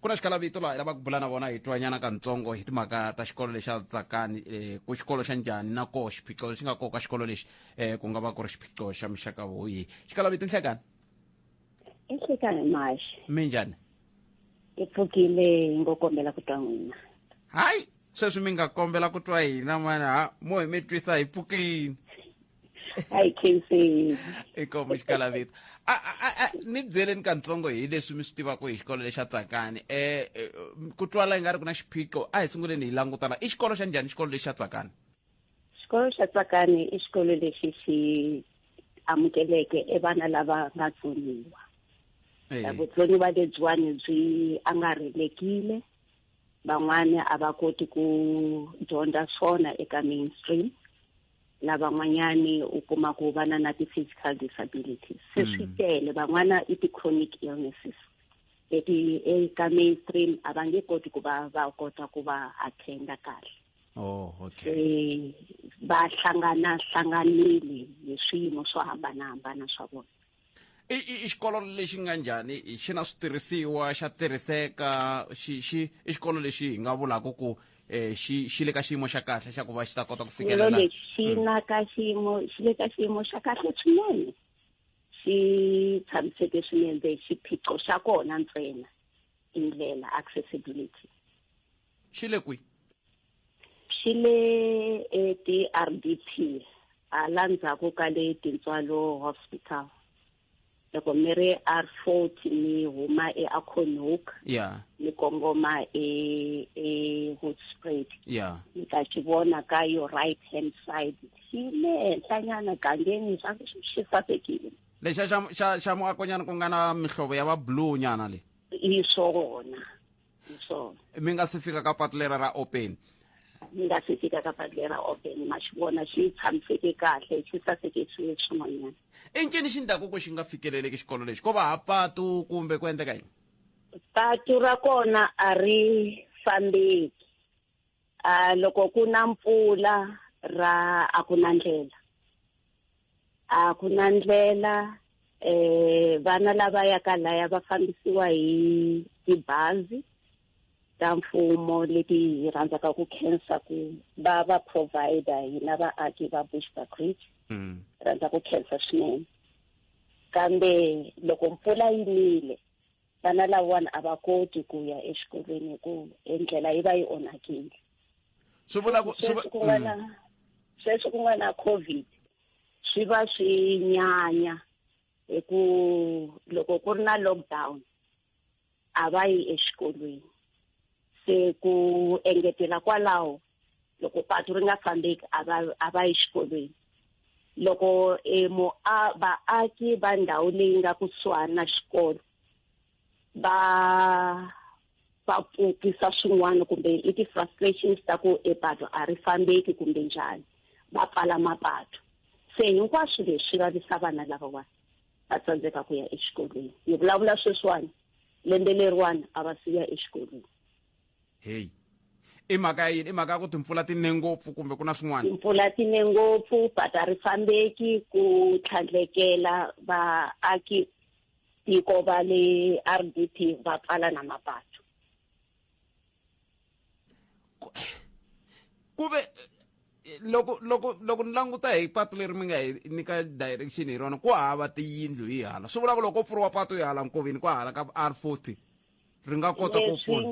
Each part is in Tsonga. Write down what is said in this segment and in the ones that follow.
ku na xikalavito laha hi lava ku bula na vona hi twanyana kantsongo hi timhaka ta xikolo lexi a tsakani um ku xikolo xa njhani na koho xiphiqo lexi nga koka xikolo lexi um ku nga va ku ri xiphiqo xa muxaka woyi xikalavito nhlekani nhlekani maxi mi njhani hi pfukile hi ngo kombela ku twa n'wina hayi sweswi mi nga kombela ku twa hina mani ha mo hi mi twisa hi pfukile hi khenseni inkomu xikalavito A- a- a- a- ni byeleni kantsongo hi leswi mi swi tivaka hi xikolo lexa tsakani eh eh, ku twala i nga ri ku na xiphiqo a hi sunguleni hi langutana i xikolo xa njhani xikolo lexa tsakani xikolo xa tsakani i xikolo lexi xi amukeleke e vana lava nga tsoniwa Eh, vutsoniwa lebyiwani byi angarhelekile van'wana a va koti ku dyondza swona eka mainstream lavan'wanyani u kuma ku vana na ti-physical disabilities se mm. swi tele van'wana i ti-chronic illnesses leti eka mainstream a va nge koti ku va va kota ku va attenda kahle oh, okay. se va hlangana hlanganile hi swiyimo swo hambanahambana swa vona i i- i xikolo lexi nga njhani i- xi na switirhisiwa xa tirhiseka xi xi i xikolo lexi hi nga vulaka ku um xi xi le ka xiyimo xa kahle xa ku va xi ta kota ku xikolo fikelela lexi xi na ka xiyimo xi le ka xiyimo xa kahle swinene xi tshamiseke swinene xiphiqo xa kona ntsena i ndlela accessibility xi le kwi xi le eti-r d p hala ndzhaku ka le tintswalo hospital loko mi ri r forty mi huma eaconhook ya mi kongoma ehoodspred e ya mi ta xi vona ka yo right hand side xi le henhlanyana gangeni swa ku xi sasekile lexa xa xa xa muakonyana ku nga na mihlovo ya va blue nyana le hi swona swona mi nga si fika ka patu lera ra open mi nga si fika ka patu lera open ma xi vona xi tshamiseke kahle xi saseke swilo swin'wanyana i ncini xi ndlaku ku xi nga fikeleleki xikolo lexi ko va ha patu kumbe ku endleka yini patu ra kona a ri fambeki uh, loko ku na mpfula ra a ku na ndlela a ku na ndlela eh vana lava ya ka laya va fambisiwa hi tibazi ta mfumo leti hi rhandzaka ku khensa ku va va provider hina vaaki va bushbuckridge mm. rhandza ku khensa swinene kambe loko mpfula yi nile vana lavawani a va koti ku ya exikolweni hi ku endlela yi va yi onhakile swi vula ku sweswi ku nga na mm. sweswi ku nga na covid swi va swi nyanya hi ku loko ku ri na lockdown a va yi exikolweni se ku engetela kwalaho loko patu ri nga fambeki a va a va yi xikolweni loko e mo a vaaki va ndhawu leyi nga kusuhani na xikolo va va pfukisa swin'wana kumbe i ti-frustrations ta ku e patu a ri fambeki kumbe njhani va pfala mapatu se hinkwaswo leswi vavisa vana lavawani va tsandzeka ku ya exikolweni ni vulavula sweswiwani lembe leriwani a va siya exikolweni heyi i mhaka ya yini i mhaka ya ku timpfula ti ne ngopfu kumbe ku na swin'wana timpfula ti ne ngopfu but a ri fambeki ku tlhandlekela vaaki tiko va le r d p va pfala na mapatu ku ve loko loko loko ni languta hi patu leri mi nga hi nyika direction hi rona ku hava tiyindlu hi hala swi vula ku loko ko pfuriwa patu hi hala nkoveni ku hala ka r forty ri nga kota ku pfuna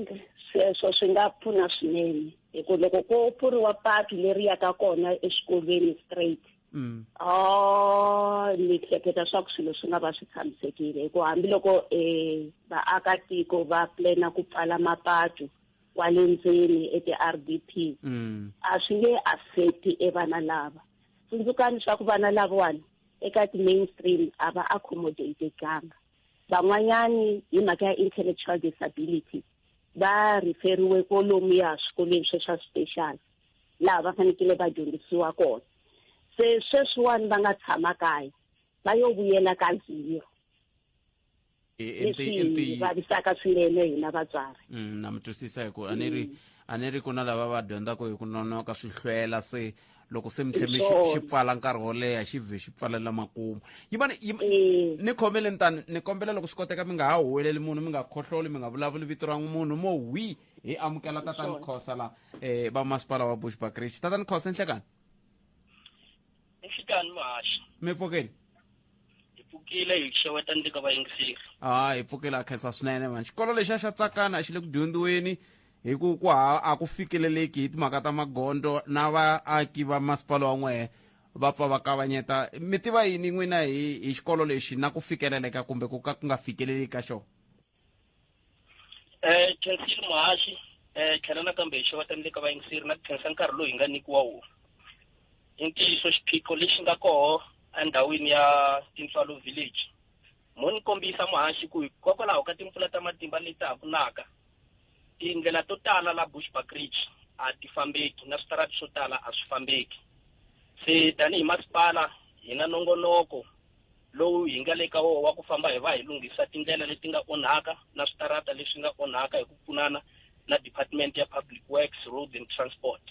sweswo swi nga pfuna swinene hi ku loko ko pfuriwa patu leri yaka kona exikolweni straight mm. oh ni hleketa swa ku swilo swi nga va swi tshamisekile hi ku hambiloko um vaakatiko va plana ku pfala mapatu kwale ndzeni eti-r d p mm. a swi nge affecti evana lava tsundzukani swa ku vana lavawani eka ti-mainstream a va accommodatekanga van'wanyani hi mhaka ya intellectual disability va referiwe kolomu ya swikolweni swe swa special laha va fanekele va dyondzisiwa kona se sweswiwani va nga tshama kaya va yo vuyela ka zero leswi vavisaka swinene hina vatswari mm, na mi twisisa hi ku a ni ri mm. a ni ri ku na lava va dyondzaka hi ku nonoka swi hlwela se loko se mi tlheme xi pfala nkarhi wo leha xi vhe xi pfalela makumu yimani eh. ni khomele ni tani ni kombela loko swi koteka mi nga ha huweleli munhu mi nga khohloli mi nga vulavuli vito ra munhu mo wi hi amukela tatani khosa la um va masipala wa bush bakrichi tatani khosa enhlekani enhlekani mahaxi mi pfukeni hi pfukile hi xeweta ndzi ka vayingiseri ha hi pfukile a khensa swinene mani xikolo lexi a xa tsakana a xi le ku dyondziweni hi ku ku ha a ku fikeleleki hi timhaka ta magondo na vaaki va masipala wa n'wehe va pfa va kavanyeta mi tiva yini n'wina hi hi xikolo lexi na ku fikeleleka kumbe ku ka ku nga fikeleli ka xona eh khensile muhaxi eh tlhela nakambe hi xeweta ni le ka vayingiseri na ku khensa nkarhi lowu hi nga nyikiwa wona i ntiyiso xiphiqo lexi nga koho endhawini ya tintswalo village mo ni kombisa muhaxi ku hikokwalaho ka timpfula ta matimba leti ha ku naka tindlela to tala la bushback ridge a ti fambeki na switarati swo tala a swi fambeki se tanihi masipala hi na nongonoko lowu hi nga le ka wona wa ku famba hi va hi lunghisa tindlela leti nga onhaka na switarata leswi nga onhaka hi ku pfunana na department ya public works roads and transport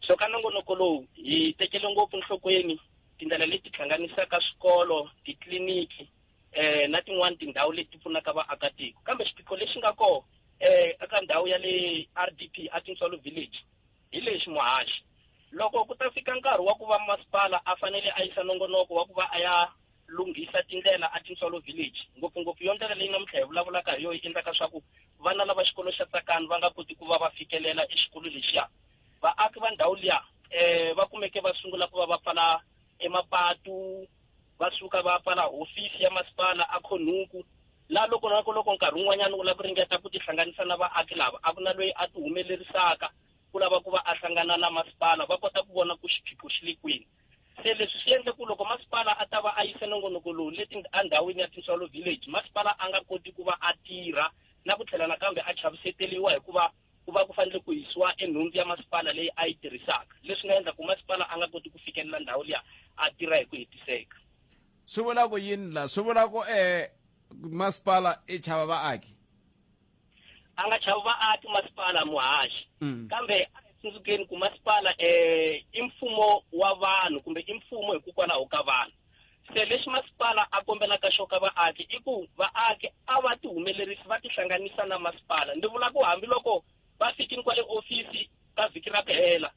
so ka nongonoko lowu hi tekele ngopfu nhlokweni tindlela leti hlanganisaka swikolo titliliniki eh na tin'wani tindhawu leti pfunaka vaakatiko kambe xiphiqo lexi nga kona eh eka ndhawu ya le r d p a tintswalo village Hi lexi, muhaxi, loko ku ta fika nkarhi wa ku va masipala a fanele a yisa nongonoko wa ku va a ya lunghisa tindlela a Tintswalo Village, ngopfungopfu yo ndlela leyi namuntlha hi vulavulaka hi yona yi endlaka swa ku vana lava xikolo xa Tsakani va nga koti ku va va fikelela exikolo lexiya, vaaki va ndhawu liya va kumeke va sungula ku va va pfala emapatu, va suka va pfala hofisi ya masipala a khonhuku laha loko na ku loko nkarhi wun'wanyana u lava ku ringeta ku tihlanganisa na vaaki lava a ku na loyi a tihumelerisaka ku lava ku va a hlangana na masipala va kota ku vona ku xiphiqo xi le kwini se leswi swi endle ku loko masipala a ta va a yise nongonoko lowu leti endhawini ya tinsolo village masipala a nga koti ku va a tirha na ku tlhela nakambe a chaviseteriwa hikuva ku va ku fanele ku yisiwa enhundzu ya masipala leyi a yi tirhisaka leswi nga endla ku masipala a nga koti ku fikelela ndhawu liya a tirha hi ku hetiseka swi vula ku yini la swi vula ku eh masipala i chava vaaki a nga chava vaaki masipala muhaxi mm. kambe tsundzukeni ku masipala um i mfumo wa vanhu kumbe i mfumo hikokwalaho ka vanhu se lexi masipala a kombelaka xoka vaaki i ku vaaki a va tihumelerisi va tihlanganisa na masipala ndzi vula ku hambiloko va fikini kwale ofisi ka vhiki ra ku hela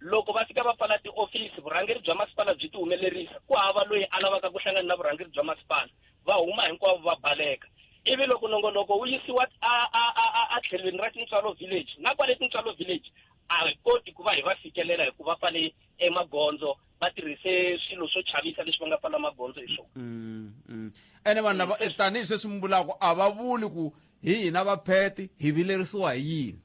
loko va fika va pfala tiofisi vurhangeri bya masipala byi tihumelerisa ku hava loyi a lavaka ku hlangana na vurhangeri bya masipala va huma hinkwavo va baleka ivi loko nongonoko wu yisiwa a tlhelweni ra tintswalo village na kwale tintswalo village a hi koti ku va hi va fikelela hikuva pfale emagondzo va tirhise swilo swo chavisa leswi va nga pfala magondzo hi swona mm, mm. ene vanhu lava eh, tanihi sweswi mi vulaka a va vuli ku hi hina vapheti hi vilerisiwa hi yini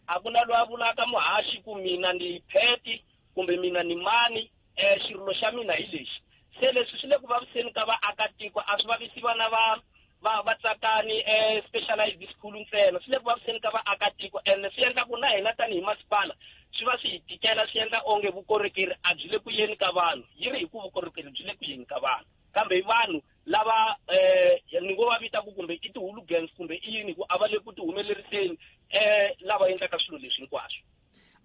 a ku na loyi a vulaka muhaxi ku mina ni pheti kumbe mina ni mani um xirilo xa mina hi lexi se leswi swi le ku vaviseni ka vaakatiko a swi vavisi vana va va va tsakani e-specialized school ntsena swi le ku vaviseni ka vaakatiko and swi endla ku na hina tanihi masipala swi va swi hi tikela swi endla onge vukorhokeri a byi le ku yeni ka vanhu yi ri hi ku vukorhokeri byi le ku yeni ka vanhu kambe i vanhu lava um ni ngo va vita ku kumbe i ti-hooligangs kumbe i yini hi ku a va le ku ti humeleriseni um lava endlaka swilo leswi hinkwaswo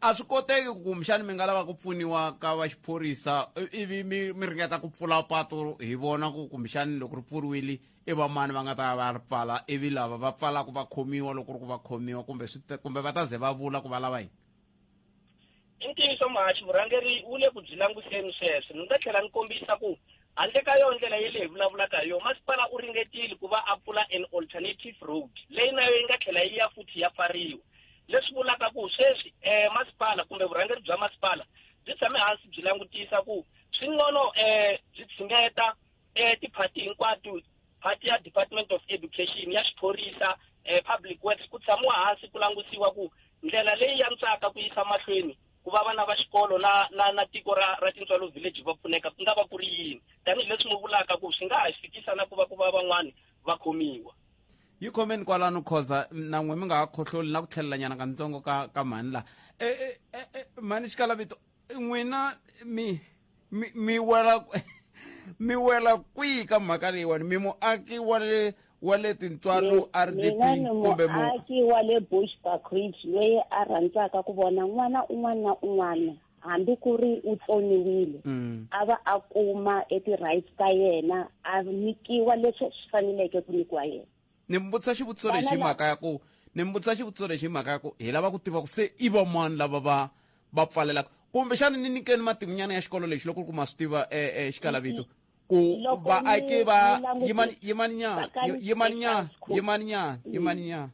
a swi koteki ku kumbexani mi nga lava ku pfuniwa ka va xiphorisa i- ivi mi mi ringeta ku pfula patu hi vona ku kumbexani loko ri pfuriwile i vamani va nga ta ya va ya ri pfala ivi lava va pfalaka va khomiwa loko ri ku va khomiwa kumbe swi ta- kumbe va ta ze va vula ku va lava yini i ntiyiso mahaxi vurhangeri wu le ku byi languseni sweswo ni nga tlhela ni kombisa ku Handle ka yona ndlela yele hi vulavulaka hi yona, masipala u ringetile ku va a pfula an alternative road leyi na yo yi nga tlhela yi ya futhi ya pfariwa, leswi vulaka ku sweswi eh, masipala kumbe vurhangeri bya masipala byi tshame hansi byi langutisa ku swi ngono eh, byi tshingeta eh, tiphati hinkwato phati ya Department of Education ya xiphorisa eh, Public Works ku tshamiwa hansi ku langutiwa ku ndlela leyi yantswaka ku yisa mahlweni ku va vana va xikolo na na na tiko ra ra tintswalo village va pfuneka ku nga va ku ri yini tanihileswi n'wi vulaka ku swi nga ha fikisa na ku va ku va van'wani va khomiwa yi khomeni kwalano khoza na n'we mi nga ha khohloli na ku tlhelelanyana ka ntsongo ka ka mhani laha e, e, e, e, mhani xikalavito n'wina mi mi mi wela mi wela kwihi ka mhaka leyiwani mi muaki wa le wa le tintswalo rdp mina ni kumbe mu muaki wa le bushbuck ridge loyi a rhandzaka ku vona n'wana un'wana na un'wana hambi ku ri u tsoniwile Mm. a va a kuma e ti-rights ta yena a nyikiwa leswi swi faneleke ku nyikiwa yena ni mi vutisa xivutiso lexi hi mhaka ya ku ni mi vutisa xivutiso lexi hi mhaka ya ku hi lava ku tiva ku se i vamani lava va va pfalelaka kumbe xana ni nyikeni matimunyana ya xikolo lexi loko ku ri ku ma swi tiva exikalavito ku vaaki va yimani nyana yimani nyana yimani nyana yimani nyana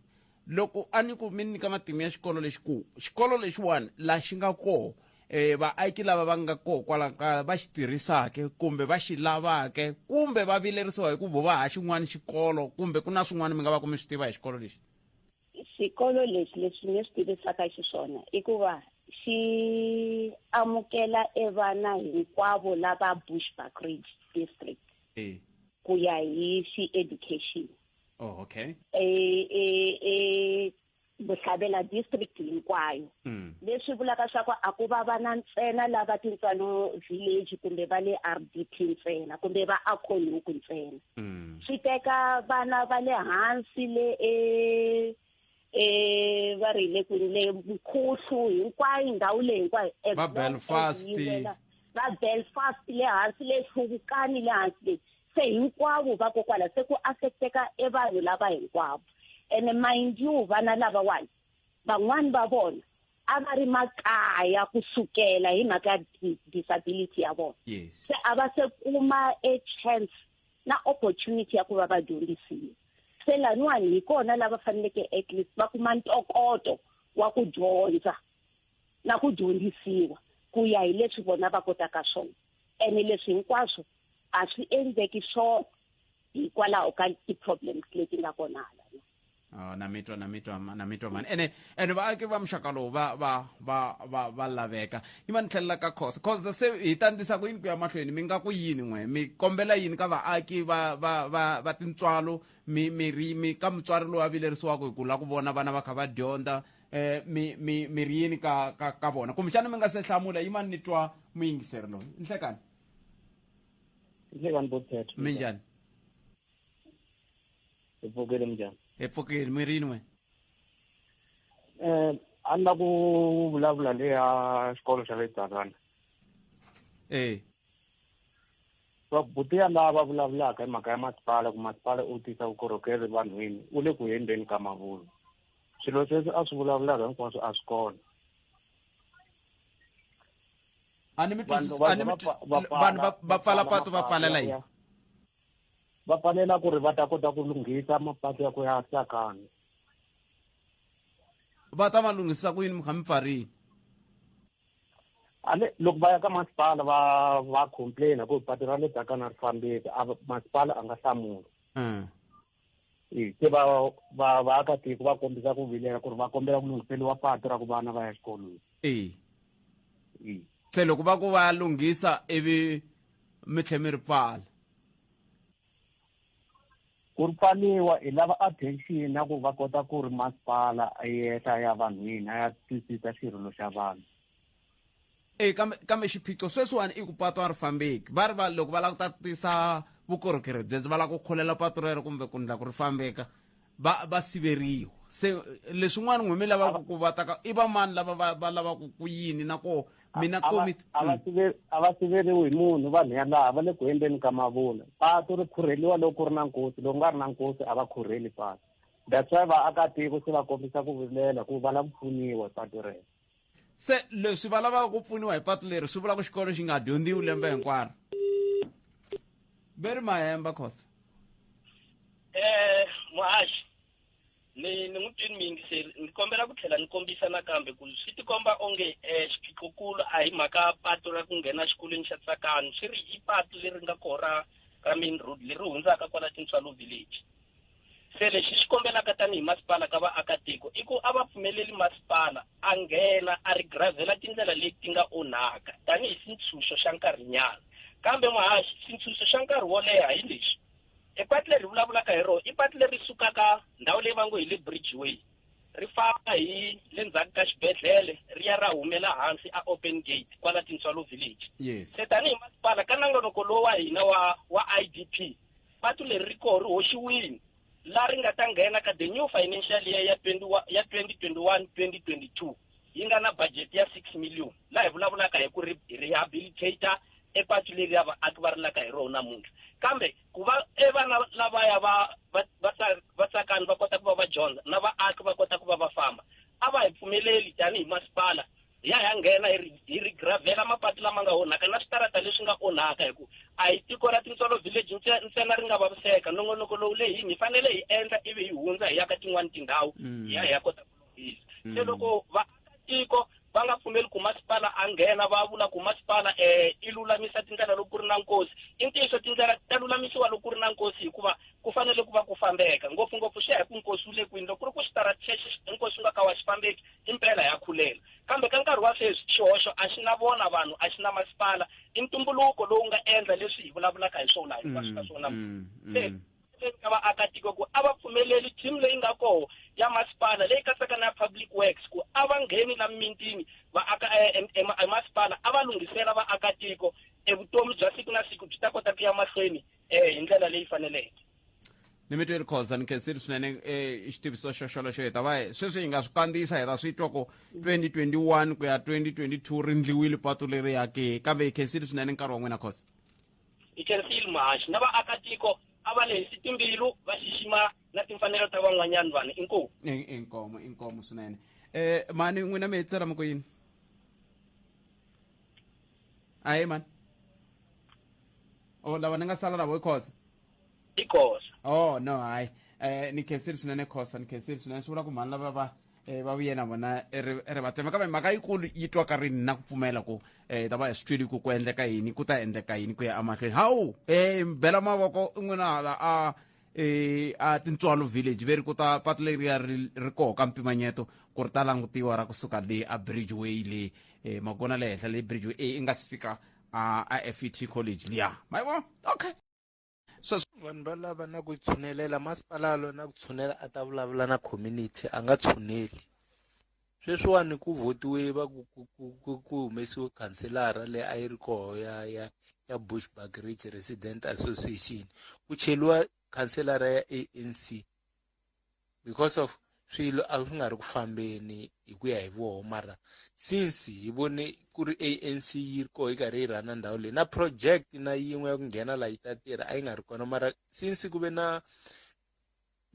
loko a ni ku mi nyika matimu ya xikolo lexi ku xikolo lexiwani laha xi nga koho e vaaki lava va nga koho kwala kaya va xi tirhisake kumbe va xi lavake kumbe va vilerisiwa hi ku vo va ha xin'wana xikolo kumbe ku na swin'wana mi nga va ku mi swi tiva hi xikolo lexi xikolo lexi lexi ni swi tivisaka xiswona i ku va xi amukela evana hinkwavo lava bushbuck ridge district ku ya hi xi-education oh okay e e e Bohlabela district hinkwayo mm. leswi vulaka swa ku a ku va vana ntsena lava tintswalo village kumbe va le RDP ntsena kumbe va Akhonuku ntsena mm. swi teka vana va le hansi le e e va ri le kwini le Mkhuhlu hinkwayo ndhawu leyi hinkwayo va Belfast va Belfast le hansi le Hluvukani le hansi le se hinkwavo vakokwala se ku affecteka e vanhu lava hinkwavo ene mind you vana lavawani van'wani va vona a va ri makaya ku sukela hi mhaka ya disability ya vona se a va se kuma e chance na opportunity ya ku va va dyondzisiwa se laniwani hi kona lava faneleke at least va kuma ntokoto wa ku dyondza na ku dyondzisiwa ku ya hi leswi vona va kotaka swona ene leswi hinkwaswo a swi endleki swona hikwalaho ka ti-problems leti nga kona hala Oh, na mitwa na mitwa na mitwa mani ene ene vaaki va muxaka lowu va va va va va laveka yi va ni tlhelela ka khosa khosa se hi ta ndisa ku yini ku ya mahlweni mi nga ku yini n'we mi kombela yini ka vaaki va va va va tintswalo mi mi ri mi ka mutswari lowu a vilerisiwaka hi ku la ku vona vana va kha va dyondza eh mi mi mi ri yini ka ka ka vona kumbexana mi nga se hlamula yi mani ni twa muyingiseri loyi nhlekani inhle kanti bothetho minjani epfukile minjani epfukile mi rini wena um a ni la ku vulavula le ya xikolo xa le dzakana e vabuti ya lava vulavulaka hi mhaka ya masipala ku masipala u tisa vukorhokeri vanhwini u le ku hembeni ka mavulu swilo sweswi a swi vulavulaka hinkwaswo a swi kona a ni mi twisisi- a ni mi twi- vanhu va- va pfala patu va pfalela yini va pfalela ku ri va ta kota ku lunghisa mapatu ya ku ya tsakana va ta ma lunghisa ku yini mi kha mi pfarini ale loko va ya ka masipala va va complaina ku patu ra le tsakana ri fambeki a va- masipala a nga hlamuli Eh. e se va va vaakatiko va kombisa ku vilela ku ri va kombela ku lunghiseliwa patu ra ku vana va ya xikolweni e e se loko va ku va lunghisa ivi mi tlhe mi ri pfala ku ri pfaliwa hi lava attention na ku va kota ku ri masipala a yehla ya vanhwini a ya twisisa xirilo xa vanhu e kambe kambe xiphiqo sweswiwani i ku patu a ri fambeki va ri va loko va lava ku tatisa vukorhokeri byebyo va lava ku kholela patu rero kumbe ku ndla ku ri fambeka va va siveriwa se leswin'wana n'we mi lavaka ku vataka i vamani lava va va lavaka ku yini na koho mina komit mm. a va siveriwi hi munhu vanhu yalaha va le ku endleni ka mavula patu ri khurheliwa loko ku ri na nkosi loko nga ri na nkosi a va khurheli patu that's why vaakatiko se va kombisa ku vilela ku va lava ku pfuniwa patu rero se leswi va lavaka ku pfuniwa hi patu leri swi vula ku xikolo xi nga dyondziwi lembe hinkwaro very mahemba khosa eh muhaxi ni ni n'wi twini miyingiseri ni kombela ku tlhela ni kombisa nakambe ku swi tikomba onge um xiphiqokulu a hi mhaka patu ra ku nghena xikolweni xa tsakani swi ri i patu leri nga koho ra ra main road leri hundzaka kwala tintswalo village se lexi xi kombelaka tanihi masipala ka vaakatiko i ku a va pfumeleli masipala a nghena a ri gravhela tindlela leti nga onhaka tanihi xintshunxo xa nkarhinyana kambe muhaxi xintshunxo xa nkarhi wo leha hi lexi e pati leri vulavulaka hi rona i pati leri sukaka ndhawu leyi va ngo hi le bridgeway ri famba hi le ndzhaku ka xibedhlele ri ya ra humela hansi a open gate kwala tintswalo village yes. se tanihi masipala ka nangonoko lowu wa hina wa wa i d p Patu leri ri koho ri hoxiwile la ri nga ta nghena ka the new financial year ya 20 ya 2021 2022 yi nga na budget ya 6 million la hi vulavulaka hi ku ri rehabilitator epatu leri ya vaaki va rilaka hi rona namuntlha kambe ku va evana lavaya va va- va tsa- va tsakani va kota ku va va dyondza na vaaki va kota ku va va famba a va hi pfumeleli tanihi masipala ya ya nghena hi ri- hi rigravhela mapatu lama nga onhaka na switarata leswi nga onhaka hi ku a hi tiko ra tintsolo village ntse- ntsena ri nga vaviseka nongonoko lowu leyini hi fanele hi endla ivi hi hundza hi ya ka tin'wani tindhawu Mm. hi ya hi ya kota ku lunghisa se Mm. loko vaakatiko va nga pfumeli ku masipala a nghena va vula ku masipala um i lulamisa tindlela loko ku ri na nkosi i ntiyiso tindlela ta lulamisiwa loko ku ri na nkosi hikuva ku fanele ku va ku fambeka ngopfungopfu swi ya hi ku nkosi wu le kwini loko ku ri ku xitarati xexi nkosi wu nga ka wa xi fambeki i mpela ya khulela kambe ka nkarhi wa sweswi xihoxo a xi na vona vanhu a xi na masipala i ntumbuluko lowu nga endla leswi hi vulavulaka hi swona hi ka swona mm, mm, se mm. ka vaakatiko ku a va pfumeleli team leyi nga koho ya masipala leyi katsaka na public works ku a va ngheni la mintini vaaka eh, emasipala a va lunghisela vaakatiko evutomi bya siku na siku byi ta kota ku ya mahlweni um hi ndlela leyi faneleke ni mi tweli khoza ni khensile swinene eh, xitiviso xoxolexo hi ta va hi- sweswi hi nga swi kandziyisa hi ta swi twa ku 2021 ku ya 2022 ri ndliwile patu leri yake kambe hi khensile swinene nkarhi wa n'wina khoza hi khensile muhaxi na vaakatiko a va lehisi timbilu va xixima na timfanelo ta van'wanyana vanhu inkomu I- inkomo inkomo swinene eh mani n'wina mi hetisela mi ku yini ahe mani o lava ni nga sala na vo i khoza i khosa oh no hayi eh ni khensile swinene khosa ni khensile swinene swi vula ku mhani lava va eh, va vuye na vona eh, ri ri va tsema kambe mhaka yikulu yi twaka rini na ku pfumela ku eh ta va hi swi twile ku ku endleka yini ku ta endleka yini ku ya emahlweni hawu eh bela mavoko i n'wina hala a eh a tintswalo village veri ku ta patu leriya ri ri koho ka mpimanyeto ku ri ta langutiwa ra kusuka le a bridgeway le eh makona le henhla le bridgeway eh, i nga si fika a a fet college liya ma yi vona okay sweswo vanhu va lava na ku tshunelela masipala lo na ku tshunela a ta vulavula na community a nga tshuneli sweswiwani ku votiwe va ku ku ku ku ku humesiwe khanselara leyi a yi ri koho ya ya ya bushbuck ridge resident association ku cheliwa khanselara ya anc because of swilo a swi nga ri ku fambeni hi ku ya hi voho mara since hi vone ku ri anc yi ri koho yi karhi yi rhana ndhawu leyi na project na yin'we ya ku nghena laha yi ta tirha a yi nga ri kona mara since ku ve na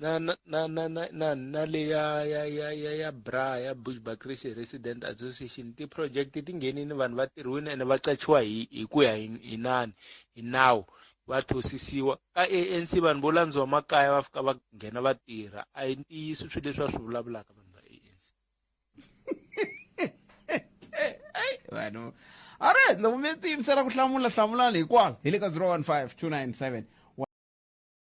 na na na na na na na le ya ya ya ya ya bra ya bushbacrisy resident association ti-project ti nghenini vanhu va tirhiwile ene va qachiwa hi hi ku ya hi hi nani hi nawu va thosisiwa ka ANC vanhu vo landziwa makaya va fika va nghena va tirha a hi ntiyiso swi leswi va swi vulavulaka vanhu va ANC vanhu all right loko mi tiyimisela ku hlamula hlamulani hikwalo hi le ka 015 297